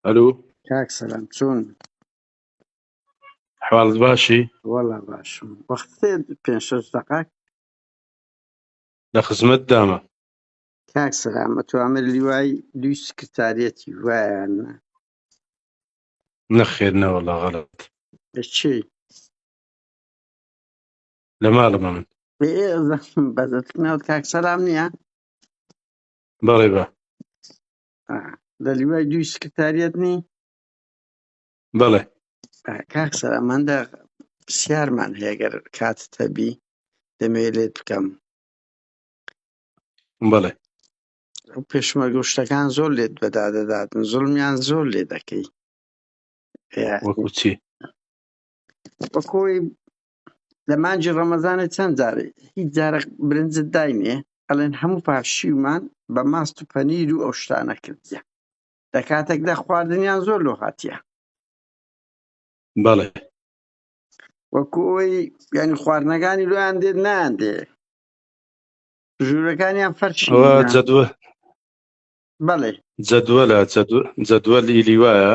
ئەلو کاک سەلام چۆن حواڵت باشی وەڵا باشم وەخت پێ شەش دقات لە خزمەت دامە کاک سەلام ئەتوامر لیوای دوی سکرتارەتی وایان نەخێر نەوەڵا غەڵت چی لە ماڵمە من بێزەحم بەدەتناوت کاک سەلام نییە بەڵێ بە آه. لە لیوای دووی سکرتاریەت نی بەڵێ آه، کاک سەلام من دە پرسیارمان هەیە گەر کاتت هەبی دەمەوێ لێت بکەم بەڵێ ئەو پێشمەرگە و شتەکان زۆر لێت بەدا دەداتن زوڵمیان زۆر لێ دەکەی وەکو چی بەکۆی لە مانجی ڕەمەزانێ چەند جارێ هیچ جارە برنجت داینێ ئەلێن هەموو پاشیومان بە ماست و پەنیر و ئەو شتانە کردیە لە کاتێکدا خواردنیان زۆر لۆ هاتیە بەڵێ وەکو ئەوەی یعنی خواردنەکانی لۆیان دێت نان دێ ژوورەکانیان فەرشی ئەوە نە. جەدوە بەڵێ جەدوەلە جەدوەل ئیلی وایە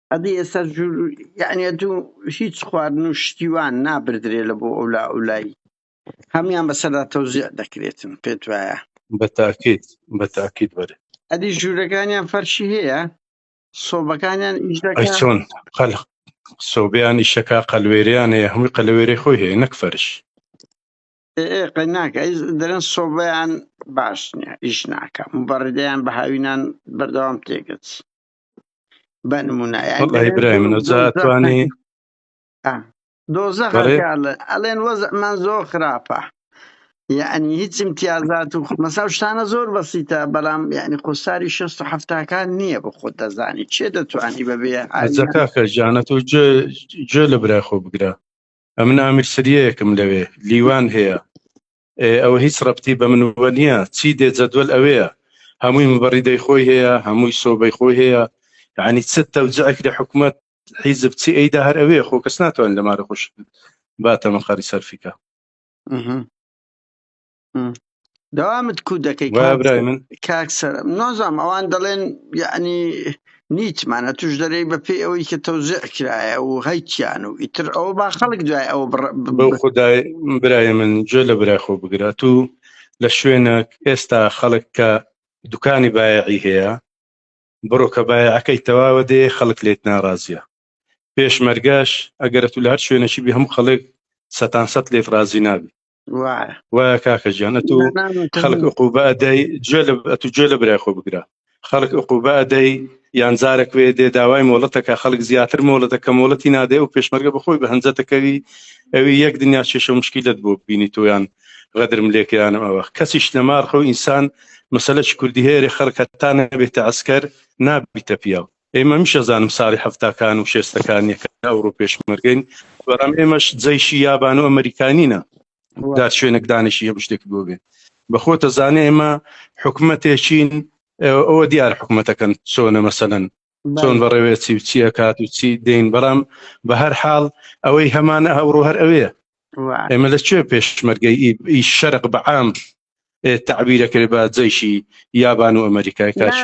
ئەدی ئێستا جور یعنی ئەتو هیچ خواردن و شتیوان نابردرێ لە بۆ ئەو لا ئەو لای هەموان بەسەردا تەوزیع دەکرێتن پێت وایە بە تاکید بە تاکید بەرێ ئەدی ژوورەکانیان فەرشی هەیە سۆبەکانیان ئیش ئەی دەکا چۆن قەل سۆبیانی شەکا قەلوێریان هەیە هەمووی قەلەوێری خۆی هەیە نەک فەرش ئێ ئێ قەی ناکە ئەی دەرن سۆبەیان باش نییە ئیش ناکە مبەڕیدەیان بە هاوینان بەردەوام تێگەچ بە نمونە دۆزە ئەڵێن وەزمان زۆر خراپە یعنی هیچ امتیازات و مەسا شتانە زۆر بەسیتە بەڵام یعنی قوساری شست و هەفتاکان نییە بە خۆت دەزانی چێ دەتوانی بەبێ ئازەکە جانەت و جێ لە برای خۆ بگرە ئەمن ئامرسریەکم لەوێ لیوان هەیە ئەوە هیچ ڕەبتی بە منوە نییە چی دێ جەدوەل ئەوەیە هەمووی مبڕیدەی خۆی هەیە هەمووی سۆبەی خۆی هەیە یعنی چ تەوجعێک لە حکوومەت حیزب چی ئەیدا هەر ئەوێ خۆ کەس ناتوان لە مارە خۆش باتە مەقاری سەرفیکە داوامت کو دەکەی من کاکسەر نازام ئەوان دەڵێن یعنی نیتمان ئەتوش دەرێی بە پێی ئەوەی کە تەوزع کرایە و هەیکیان و ئیتر ئەوە با خەڵک دوای ئەوە بە خدای برای من جۆ لە برای خۆ بگرات و لە شوێنە ئێستا خەڵک کە دوکانی بایعی هەیە بڕۆ کە بایعەکەی تەواوە دێ خەڵک لێت ناڕازیە پێشمەرگەش ئەگەرە تو لە هەر شوێنەشی بی هەموو خەڵک سەتان سەد لێت ڕازی نابی وایە کاکە گیان ئەتوو خەڵک عقوبە ئەدەی گوێ ئەتوو گوێ لە برای خۆ بگرە خەڵک عقوبە ئەدەی یان جارێک وێ دێ داوای مۆڵەتەکە خەڵک زیاتر مۆڵەتەکە مۆڵەتی نادێ و پێشمەرگە بخۆی بە هەنجەتەکەوی ئەوی یەک دنیا شێشە مشکیلت بۆ بینی تۆیان غەدرم لێکیانم ئەوە کەسیش نەماڕخە و ئینسان مەسلەش کوردی هەیەێ خەڵکە تا نەبێتە ئەسکەر نابیتە پیاو ئێمە میش ئەزانم ساری حەفتاکان و شێستەکان یەکە ئەوڕۆ پێشمەرگەین بەڕام ئێمەش جەیشی یابان و ئەمریکانینە دار شوێنێک دانیشی هەموو شتێک بۆ بێ بەخۆتە زانێ ئێمە حکومەتێکین ئەوە دیار حکومەتەکەن چۆنە مەسەن چۆن بەڕێوێ چی و چیە کات و چی دێن بەڕام بە هەر حاڵ ئەوەی هەمانە هەوڕۆ هەر ئەوەیە ئێمە لە کوێ پێشمەرگەی ئی شەرق بەعام تعبیرە کرد بە جەیشی یابان و ئەمریکای کاش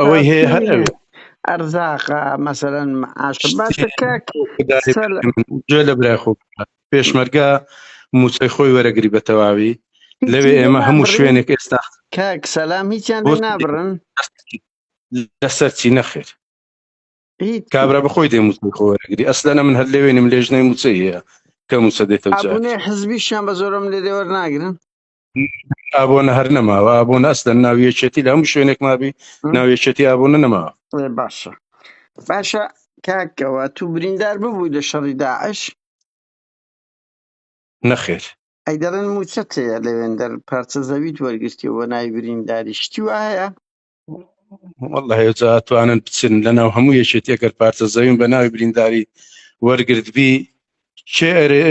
ئەوەی هەیە هەر ئەوێ ئەرزاقە مەسەرەن گوێ لە برای خۆ پێشمەرگە موچەی خۆی وەرەگری بە تەواوی لەوێ ئێمە هەموو شوێنێک ئێستا کاک سەلام هیچیان بۆ نابڕن لەسەر چی نەخێر کابرا بەخۆی دێ موچەی خۆ وەرەگری ئەسلەنە من هەر لێوێنم لێژنەی موچەی هەیە کە موچە دێتە جار ئابوونێ حزبیشیان بە زۆرم لێ دێوەر ناگرن ئابۆنە هەر نەماوە ئابوون ئەسلەن ناویەکێتی لە هەموو شوێنێک مابی ناویەکێتی ئابوونە نەما ئێ، باشە باشە کاکەوە تو بریندار ببووی لە شەڕی داعش نەخێر ئەی دەڵێن موچەت هەیە لەوێندەر پارچە زەویت وەرگرتی و بە ناوی برینداری شتی وایە والله هێجا توانن بچن لەناو هەموو یەکێتی ئەگەر پارچە زەویم بە ناوی برینداری وەرگرتبی چێ ئەرێ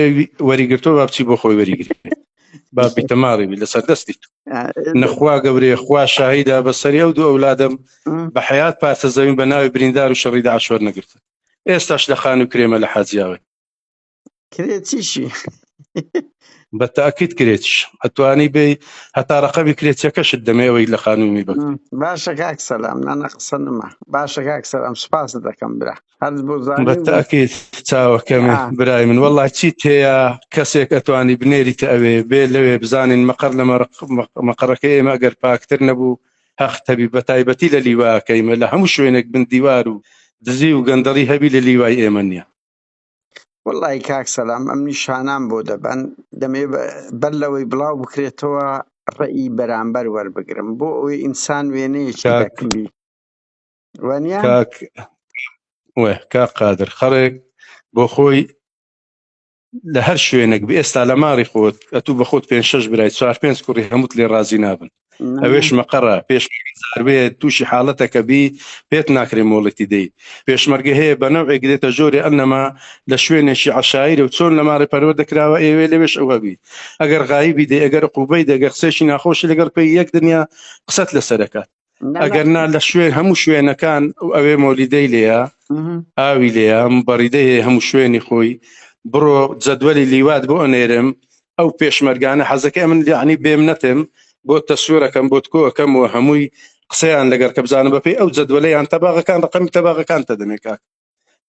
وەریگرتۆ با بچی بۆ خۆی وەریگری با بیتەماڵی بی لەسەر دەستی تو نەخوا گەورەیە خوا شاهیدا بەسەری ئەو دوو ئەولادم بە حیات پارچە زەویم بە ناوی بریندار و شەڕی داعش وەرنەگرتن ئێستاش لە خان و کرێمە لە حاجیاوی کرێ چیشی بە تاکیت کرێچ ئەتوانی بێ هەتا ڕقەبی کرێچەکەشت دەمێەوەی لە خانومی بە باشە کاک سەلام نانە قسە نما باشە کاک سەرم سپاس دەکەم برا هەر بۆ بە تاکیت چاوەکەمێ برای من وەڵا چی تێە کەسێک ئەتوانی بنێریتە ئەوێ بێ لەوێ بزانین مەقەر لە مەقەڕەکە ئێمە گەر پاکتر نەبوو هەخ تەبی بە تایبەتی لە لیواکەیمە لە هەموو شوێنێک بندیوار و دزی و گەندەڵی هەبی لە لیوای ئێمە نیە وەڵی کاک سەلام ئەم نیشانان بۆ دەبەن دەمێ بەر لەوەی بڵاو بکرێتەوە ڕێی بەرامبەر وەربگرم بۆ ئەوی ئینسان وێنەیەکی دەکبی وانە کا قادر خەڵێک بۆ خۆی لە هەر شوێنێک بە ئێستا لە ماڵی خۆت ئەتوو بە خۆت پێ شش برای چوار پێنج کوڕی هەمووت لێ ڕازی نابن ئەوێش مەقەڕە پێشمەرگزاروێ تووشی حاڵەتەکە بی پێت ناکرێ مۆڵەتی دەی پێشمەرگە هەیە بە نەوێک دێتە جۆری ئەنەما لە شوێنێکی عشاعرە و چۆن لە ماڕی پەروە دەکراوە ئێوێ لەوێش ئەوەبی ئەگەر غایبی دەی ئەگەر قوبەی دەگەر قسێکی ناخۆشی لەگەڵ پێی یەک دنیا قسەت لەسەرەکات ئەگەر نا لە شوێن هەموو شوێنەکان ئەوێ مۆلیدەی لێە ئاوی لێە بەڕیدەی هەموو شوێنی خۆی بڕۆ جەدوەری لیوات بۆ ئەنێرم ئەو پێشمەرگانە حەزەکەی من یعنی بێم نەتێم بۆ تەسوێرەکەم بۆت کۆەکەم و هەمووی قسەیان لەگەر کە بزانە بەپی ئەو جدوەلیان تەباغەکان ڕقەمی تەباغەکان تە دەمێ کاک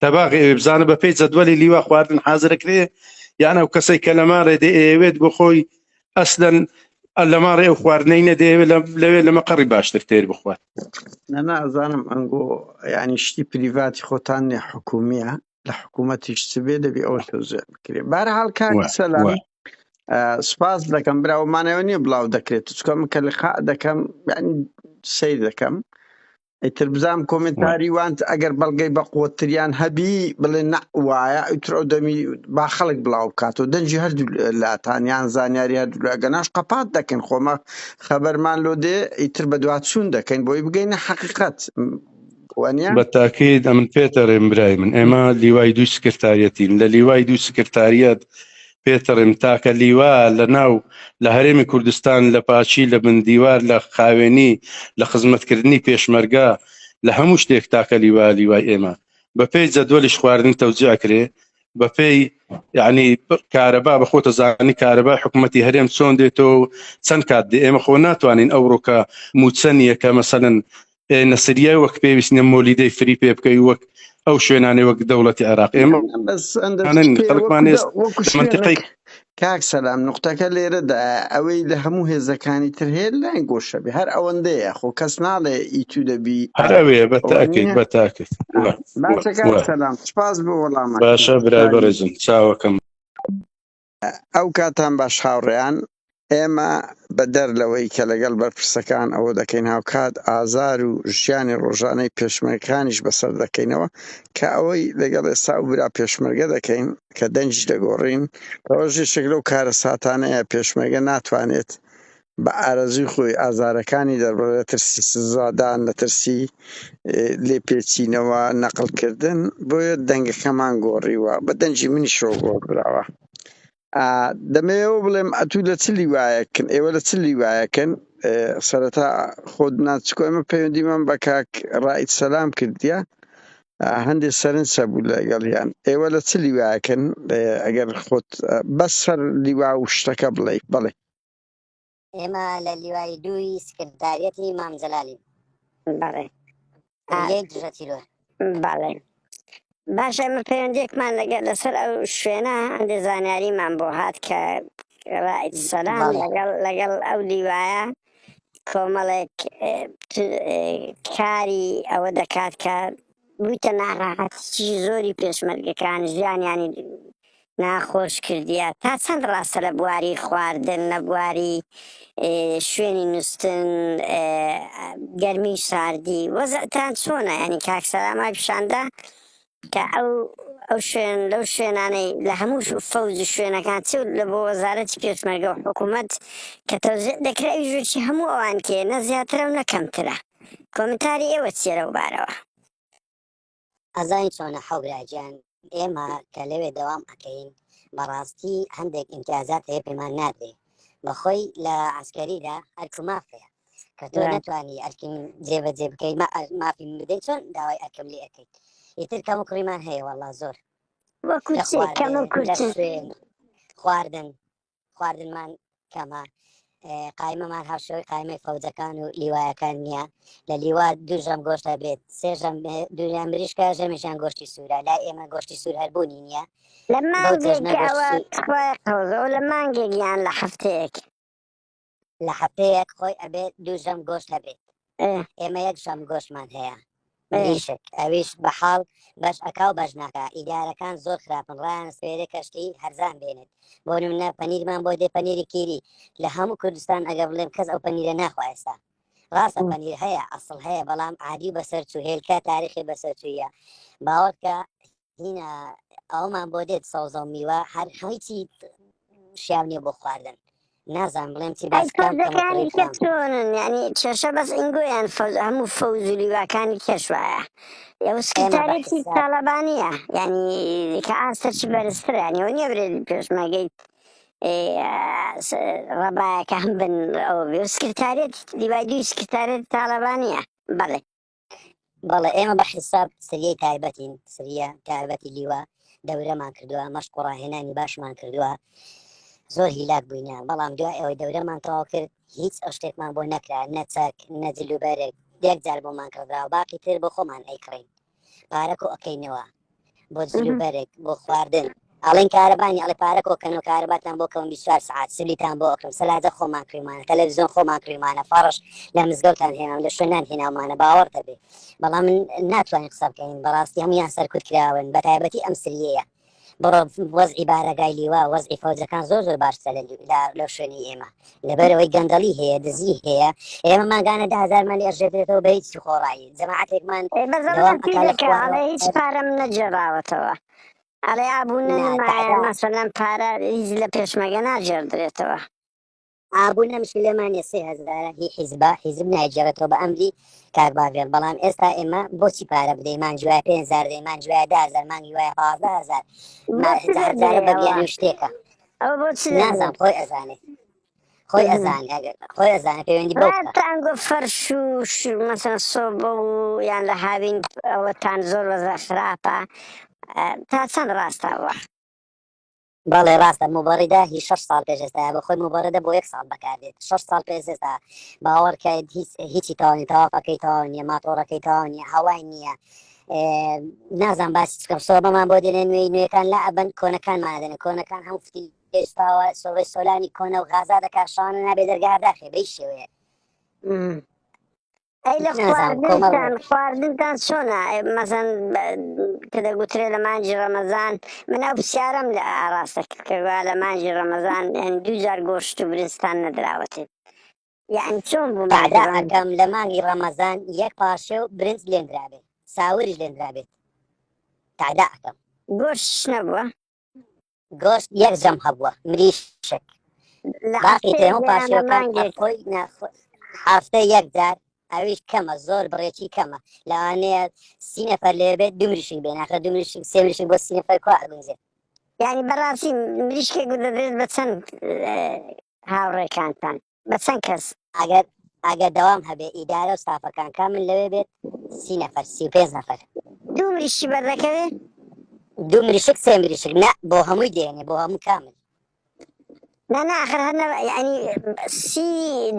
تەباغ ئێوێ بزانە بەپی جدوەلی لیوا خواردن حازرەکرێ یان ئەو کەسەی کە لەماڵێ دێ ئەوێت بۆ خۆی ئەسلەن لەماڵێ ئەو خواردنەی نەدێ لەوێ لەمە قەڕی باشتر تێر بخوات نەنازانم ئەنگۆ ینی شتی پریڤاتی خۆتان نێ حکومیە لە حکوومەتیش چ بێ دەبێ ئەوە تۆزێن بکرێ بارحاڵ کاک سەلام سپاس دەکەم براوەمانەوە نییە بڵاو دەکرێت چکەم کە لە خا دەکەم سیر دەکەم ئیتر بزانام کۆمنتاری وانت ئەگەر بەڵگەی بە قوتریان هەبی بڵێ نە وایە ئیتر ئەو دەمی با خەڵک بڵاو بکاتەوە دەنجی هەردوو لاتانیان زانیاری هەردوولاگەناش قەپات دەکەن خۆمە خەبەرمان لۆ دێ ئیتر بە دوات چوون دەکەین بۆی بگەینە حەقیقەت وانە؟ بە تاکید ئەمن پێتەڕێم برای من ئێمە لیوای دوو سکرتاریەتین لە لیوای دوو سکرتاریەت پێتەڕێم تاکە لیوا لە ناو لە هەرێمی کوردستان لە پاچی لە بن دیوار لە خاوێنی لە خزمەتکردنی پێشمەرگە لە هەموو شتێک تاکە لیوا لیوای ئێمە بەپێی جەدوەلیش خواردن تەوجیاکرێ بەپێی یعنی کارەبا بە خۆتە زانانی کارەبا حکوومەتتی هەرێم چۆن دێتەوە چەند کات دێ ئێمە خۆ ناتوانین ئەوڕۆکە موچەنیە کە مەسەن نەسریای وەک پێویست نیە مۆلیدەی فری پێ بکەی وەک ئەو شوێنانی وەک دەوڵەتی عێراق ئێمە کاک سەلام نقطەکە لێرەدا ئەوەی لە هەموو هێزەکانی تر هەیە لای گۆشە بێ هەر ئەوەندەیە خۆ کەس ناڵێ ئیتو دەبی هەر ئەوەیە بە تاکەیت بە تاکەیت سپاس بۆ وەڵام باشە برای بەڕێزم چاوەکەم ئەو کاتان باش هاوڕێیان، ئێمە بەدەر لەوەی کە لەگەڵ بەرپرسەکان ئەوە دەکەین هاوکات ئازار و ژیانی ڕۆژانەی پێشمەرگەکانیش بەسەر دەکەینەوە کە ئەوەی لەگەڵ ئێستا ئەو برا پێشمەرگە دەکەین کە دەنگی دەگۆڕین ئەوەش یەکێک لەو کارەساتانەیە پێشمەرگە ناتوانێت بە ئارەزووی خۆی ئازارەکانی دەربڕێت، ترسی سزادان، لە ترسی لێپێچینەوە، نەقڵکردن، بۆیە دەنگەکەمان گۆڕیوە، بە دەنگی منیشەوە گۆڕدراوە. دەمەوێت ئەوە بڵێم، ئەتوو لە چ لیوایەکن؟ ئێوە لە چ لیوایەکن؟ سەرەتا خۆت ناز، چکۆ ئێمە پەیوەندیمان بە کاک ڕائید سەلام کردیە، هەندێ سەرنج هەبوو لەگەڵیان. ئێوە لە چ لیوایەکن؟ ئەگەر خۆت بەس سەر لیوا و شتەکە بڵێی. بەڵێ. ئێمە لە لیوای دووی سکرداریەتی مام جەلالین بەڵێ یەی دژە تیرۆر بەڵێ باشە ئمە پەیوەندێکمان لەگەر لەسەر ئەو شوێنە هەندێک زانیاریمان بۆ هات کە ڕای سەلام بەڵێ. لەگەڵ لەگەڵ ئەو لیوایە کۆمەڵێک اه، ت- اه، کاری ئەوە دەکات کە بوویتە ناڕاحەتیی زۆری پێشمەرگەکان ژیانیانی ناخۆش کردیە تا چەند ڕاستە لە بواری خواردن لە بواری شوێنی نووستن گەرمی ساردی وەزتان چۆنە ینی کاکسەرامای پیشاندا کە ئەو ئەو شوێن لەو شوێنانەی لە هەموو فەوز شوێنەکان چ لە بۆ وەزارەتی پێشمەرگە و حکوومەت کە تەوزێ دەکرای ژوشی هەموو ئەوان کێ نە زیاترە و نەکەمترە کۆمنتاری ئێوە چێرە و بارەوە ئەزانی چۆنە حەوبرا گیان ئێمە کە لەوێ دەوام ئەکەین بەڕاستی هەندێک ئیمتیازات هەیە پێمان نادرێ بەخۆی لە عسکەریدا ئەرکو مافەیە کە تۆ ناتوانانی ئەرکیم جێبەجێ بکەیت مافی بدەیت چۆن داوای ئەرکم لێ ئەەکەیت ئیتر کەم و کوڕیمان هەیە وەڵا زۆر وەکو کەمە کورتێن خواردن خواردنمان کەمە قایمەمان هاوشێوەی قایمەی فەوجەکان و لیوایەکان نییە لە لیوا دوژەم گۆشتە بێت سێژەم دنیا مریشکە ژەمیشان گۆشتی سوورە لا ئێمە گۆشتی سوور هەربوونی نییە لە مانگێک لە مانگێک یان لە هەفتەیەک لە هەفتەیەک خۆی ئەبێت دوو ژەم گۆشت هەبێت ئێمە یەک ژەم گۆشمان هەیە ئیشک ئەویش بە حاڵ بەش ئەکا و بەش ناکە ئیدارەکان زۆر خراپن ڕایان سپێرێ کەشتی هەرزان بێنێت بۆ نمونە پەنیرمان بۆ دێ پەنیری کیری لە هەموو کوردستان ئەگە بڵێم کەس ئەو پەنیرە ناخوایستا ڕاستە پەنیر هەیە ئەسڵ هەیە بەڵام عادی بەسەر چوهێلکە تاریخی بەسەرچوویە باوەکە هینا ئەومان بۆ دێت سەوزە و میوە هەر هەیچی شیاو نییە بۆ خواردن نازان بڵێم چی باس بکەم کەمە فەوزەکانی کوڕی کە خۆم چۆنن یعنی کێشە بەس ئینگۆیان فەوز هەموو فەوز و لیواکانی کێش وایە یە و ئێمە بە سکرتارێتی حیساب تاڵەبانیە یعنی کە ئاستەکی بەرزترە یعنی ئەو نییە برێت پێشمەرگەی ئێ، س- ڕەبایەکە هەم بن ئەو بێ و سکرتارێت لیوای دووی سکرتارێت تاڵەبانیە بەڵێ بەڵێ ئێمە بە حیساب سریەی تایبەتین سریە تایبەتی لیوە دەورەمان کردووە مەشق و ڕاهێنانی باشمان کردووە زۆر هیلاک بووینە بەڵام دو ئەوەی دەورەمان تەواو کرد هیچ ئەو شتێکمان بۆ نەکرا نەچەک نەجللوبەرێک دێک جار بۆمان کردرا و باقی تر بۆ خۆمان ئەیکڕین پارەکۆ ئەەکەینەوە بۆ جلو بەرێک بۆ خواردن ئەڵێن کارەبانی ئەڵێ پارە کۆکەن و کارەباتان بۆ کەم 24 سعات سلیتان بۆ ئەکەم سەلاجە خۆمان کریمانە تەلەڤزیۆن خۆمان کریمانە فەڕش لە مزگەوتان هێناوە لە شوێنان هێناومانە باوەڕ دەبێ بەڵام من ناتوانین قسە بکەین بەڕاستی هەمویان سەرکوت کراون بە تایبەتی ئەم سریەیە بڕۆ وەزعی بارەگای لیوا وەزعی فەوجەکان زۆر زۆر باشتە لە لە شوێنی ئێمە لەبەرئەوەی گەندەڵی هەیە دزی هەیە ئێمە ماگانە ده هزارمان لێ ئەژێتێتەوە بە هیچ خۆڕایی جەماعاتێکمان ئێ بە زەڵم دەوام ئەکا لە پێدەکا خوارەوە ئەڵێ هیچ پارەم نەگێڕاوەتەوە ئەڵێ ئابوونە نا نمایە تەعبا مەسەلەن پارە هیچ لە پێشمەگە ناگێڕدرێتەوە ئابوو نەمشی لێمان نیە سێ هەزارە هی حیزبە حیزب نایگێڕێتەوە بە ئەمری کاک باڤێڵ بەڵام ئێستا ئێمە بۆچی پارە بدەین مانگی وایە پێنج هەزار دەین مانگی وایە دە هەزار مانگی وایە پازدە هەزار ما بەس هەزار بێ هەزارە بە بیانووی ئەوە شتێکە ئەو بۆ چ دەنگێ؟ نازام خۆی ئەزانێ خۆی ئەزانێ ئەگەر خۆی ئەزانێ پەیوەندی بەو بکە. تان گۆ فەرش و ش- مەسەن سۆبە و یان لە هاوین ئەوەتان زۆر وەزە خراپە ئە، تا چەند ڕاستە ئەوە بەڵێ ڕاستە موبەڕیدە هی شەش ساڵ پێش ئێستایە بە خۆی موبەڕیدە بۆ یەک ساڵ بەکاردێت شەش ساڵ پێش ئێستا باوەڕکەیت هیچ هیچی تەواو نیە تەواقەکەی تەواو نیە ماتۆڕەکەی تەواو نیە هەوای نیە نازان باسی چکەم سۆبەمان بۆ دێنێ نوێی نوێەکان لا ئەبەن کۆنەکانمان ئەدەنێ کۆنەکان هەم فتی پێشپاوە سۆڵی سۆلانی کۆنە و غازا دەکا شانە نابێ دەرگارداخێ بەی شێوەیە ئەی لە خواردنتان خواردنتان چۆنا مەزەن کە دەگوترێ لە مانجی ڕەمەزان من ئەو پرسیارم لە ئاراستە کردکەوا لە مانجی ڕەمەزان دوو جار گۆشت و برستان نەدراوەتێت یەعنی چۆن بوو مانگی ڕەمەزان؟ ئەدا ئەکەم لە مانگی ڕەمەزان یەک پارشێو برنج لێندرابێت ساوریش لێندرابێت تەعدا ئەکەم. گۆشتش نەبووە؟ گۆشت یەک جەم هەبووە مریشک لە باقی هەفتەیەک تێمە دەیانە پاشێوکان مانگێک ئەخۆی ناخۆ هەفتە یەک جار ئەویش کەمە زۆر بڕێکی کەمە لەوانەیە سی نەفەر لێ بێت دوو مریشک بێ ناخە دوو مریشک سێ مریشک بۆ سی نەفەر کوا ئەگونجێ یانی بەڕاستی مریشکێک دەدرێت بە چەند هاوڕێکانتان بە چەند کەس؟ ئەگەر ئەگەر دەوام هەبێ ئیدارە و ستافەکان کا من لەوێ بێت سی نەفەر سی و پێنج نەفەر. دوو مریشکی بەردەکەوێ؟ دوو مریشک سێ مریشک نا بۆ هەمووی دێنێ بۆ هەموو کامل. نا نا ئەخر هەر نە یعنی سی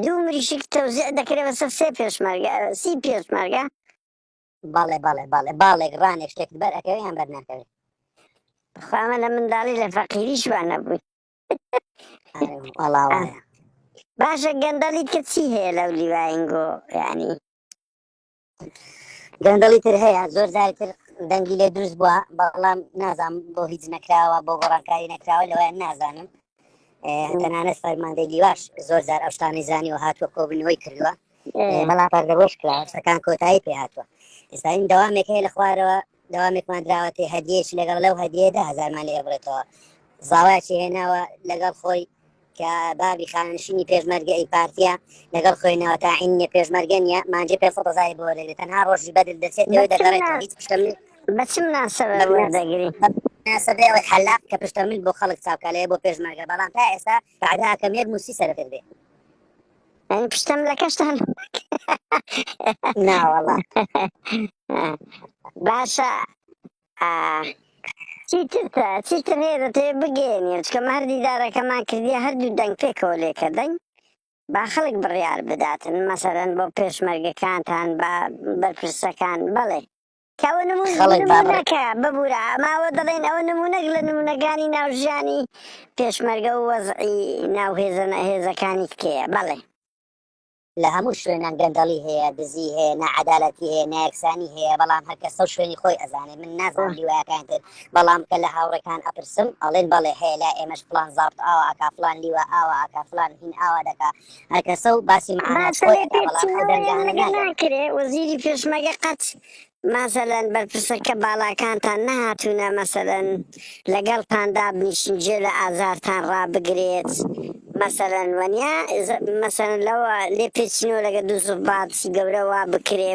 دوو مریشک تەوزیع دەکرێ بەسەر سێ پێشمەرگە سی پێشمەرگە بەڵێ بەڵێ بەڵێ باڵێک ڕانێک شتێکت بەر ئەکەوێ یان بەر ناکەوێ. خۆ ئەمە لە منداڵی لە فەقیریش وا نەبووین. وەڵا وایە باشە گەندەڵی کە چی هەیە لەو لیواینگۆ یعنی گەندەڵی تر هەیە زۆر جاری تر دەنگی لێ دروست بووە بەڵام نازانم بۆ هیچ نەکراوە بۆ گۆڕانکاری نەکراوە لەوەیان نازانم ئێ، تەنانەت فەرماندەی لیواش زۆر جار ئەو شتانەی زانی و هاتووە کۆبنەوەی کردووە ئێ، بەڵام پەردەبۆش کرا شتەکان کۆتایی پێ هاتووە ئێستا این دەوامێک هەیە لە خوارەوە دەوامێکمان دراوەتێ هەدیەیەکی لەگەڵ لەو هەدیەدا هەزارمان لێ بڕێتەوە زاوایەکی هێناوە لەگەڵ خۆی کە بابی خانشینی پێشمەرگە ئەی پارتیا لەگەڵ خوێنەوە تا عینە پێشمەرگە نیە مانجی پێ سەزای بۆ لێ تەنها ڕۆژی بەدل دەچێت لەوێ دەگەڕێت هیچ پشتم بەچم ناسەوە دەگری سەدەوە حەلاق کە پشتەمل بۆ خەڵک چاوکە لێ بۆ پێشمەرگە بەڵام تا ئێستا بعداکەم یەک موسی سەرکرد بێ من پشتم لە کەشتان ناوەڵا باشە چیتر چیتر هەیە دەتێ بگەێنی چکە هەر دیدارەکەمان کردی هەردوو دەنگ پێکەوە لێکە دەنگ با خەڵک بڕیار بداتن مەسەرەن بۆ پێشمەرگەکانتان بە بەرپرسەکان بەڵێ کە ئەوە نموون خەڵک بابڕێ. نمونەکە ببورە ماوە دەڵێن ئەوە نمونەک لە نمونەکانی ناو ژیانی پێشمەرگە و وەزعی ناو هێزە هێزەکانی تکەیە بەڵێ لە هەموو شوێنان گەندەڵی هەیە دزی هەیە نەعەدالەتی هەیە نایەکسانی هەیە بەڵام هەرکەسە و شوێنی خۆی ئەزانێ من نازانم لیوایەکان تر بەڵام کە لە هاوڕێکان ئەپرسم ئەڵێن بەڵێ هەیە لا ئێمەش فلان زابت ئاوا ئاکا فلان لیوا ئاوا ئاکا فلان هین ئاوا دەکا هەرکەسە و باسی مەعاناش خۆی ئەکا بەڵام ئەو دەرگانە ناکرێ وەزیری پێشمەگە قەت مەسەلەن بەرپرسەکە باڵاکانتان نەهاتوونە مەسەلەن لەگەڵتان دابنیشن جێ لە ئازارتان ڕابگرێت مەسەرەن وەنیا مەسەر لەوە لێ پێچینەوە لەگە دوو زوباتی گەورەوە بکرێ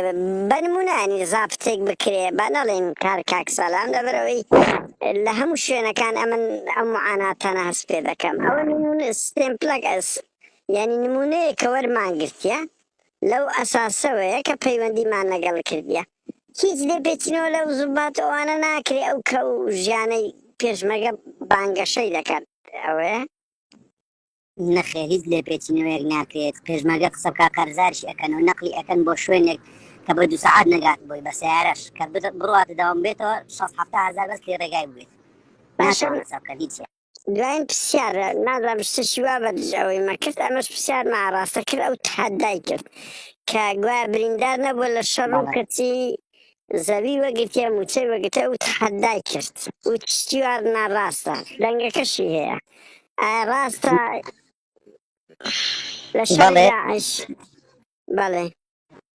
بەنمونانی زابتێک بکرێ با نەڵێن کار کاک سەلام لەبەرەوەی لە هەموو شوێنەکان ئەمن ئەم معاناتانە هەست پێ دەکەم ئەوە سپێن پلەک ئەس یانی نموونەیەک کە وەرمان گرتیە لەو ئەساسەوەیە کە پەیوەندیمان لەگەڵ کردیە هیچ لێپێچینەوە لەو زوبات و ئەوانە ناکرێ ئەو کەو و ژیانەی پێشمەرگە بانگەشەی دەکەن ئەوەیە. نەخێر هیچ لێپێچینەوەیەک ناکرێت پێشمەرگە قسە بکات قەرزاریشی ئەکەن و نەقلی ئەکەن بۆ شوێنێک کە بە دوو سەعات نەگات بۆی بە سەیارەش کە بڕواتە دەوام بێتەوە شەست حەفتا هەزار بەس کرێ ڕێگای بوێت باشە ناتوان حساب بکەن هیچ دواین پسیار نازانم شتەشی وا بە دژ ئەوەی مەکرد ئەمەش پسیار ما ڕاستە کرد ئەو تحدای کرد کە گویا بریندار نەبوو لە شەڕ و کەچی زەوی وەگرتیە موچەی وەگرتە ئەو تحدای کرد و تشتیوار ناڕاستە دەنگەکەشی هەیە ڕاستە لە شەڕ بەڵێ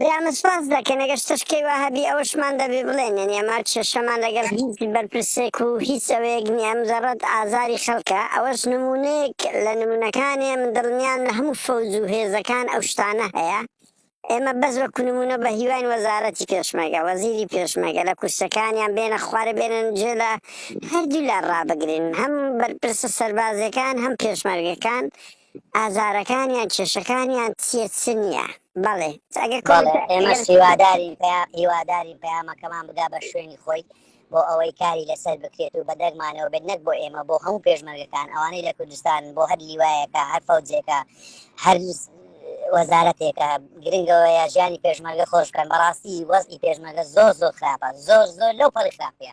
برامە سپاس دەکەین ئەگەر شتەش کەی وا هەبی ئەوەشمان دەبێ بڵێن یعنی ئەمە کێشەمان لەگەڵ هیچ بەرپرسێک و هیچ ئەوەیەک نییە مجەڕەد ئازاری خەڵکە ئەوەش نموونەیەک لە نموونەکانێ من دڵنیام لە هەموو فەوج و هێزەکان ئەو شتانە هەیە ئێمە بەس وەکو نموونە بە هیواین وەزارەتی پێشمەرگە وەزیری پێشمەرگە لە کورسەکانیان بێنە خوارە بێنن جێ لە هەردوو لا ڕابگرین هەم بەرپرسە سەربازیەکان هەم پێشمەرگەکان ئازارەکانیان کێشەکانیان چیە چ نیە بەڵێ ئەگەر بەڵێ کۆمنتە ئێمەش ئەگەر هیوادارین پیا هیوادارین پەیامەکەمان بگا بە شوێنی خۆی بۆ ئەوەی کاری لەسەر بکرێت و بەدەگمانەوە بێت نەک بۆ ئێمە بۆ هەموو پێشمەرگەکان ئەوانەی لە کوردستان بۆ هەر لیوایەکە هەر فەوجێکە هەر وەزارەتێکە گرنگەوەیە ژیانی پێشمەرگە خۆش بکەن بەڕاستی وەزی پێشمەرگە زۆر زۆر خراپە زۆر زۆر لەو پەڕی خراپە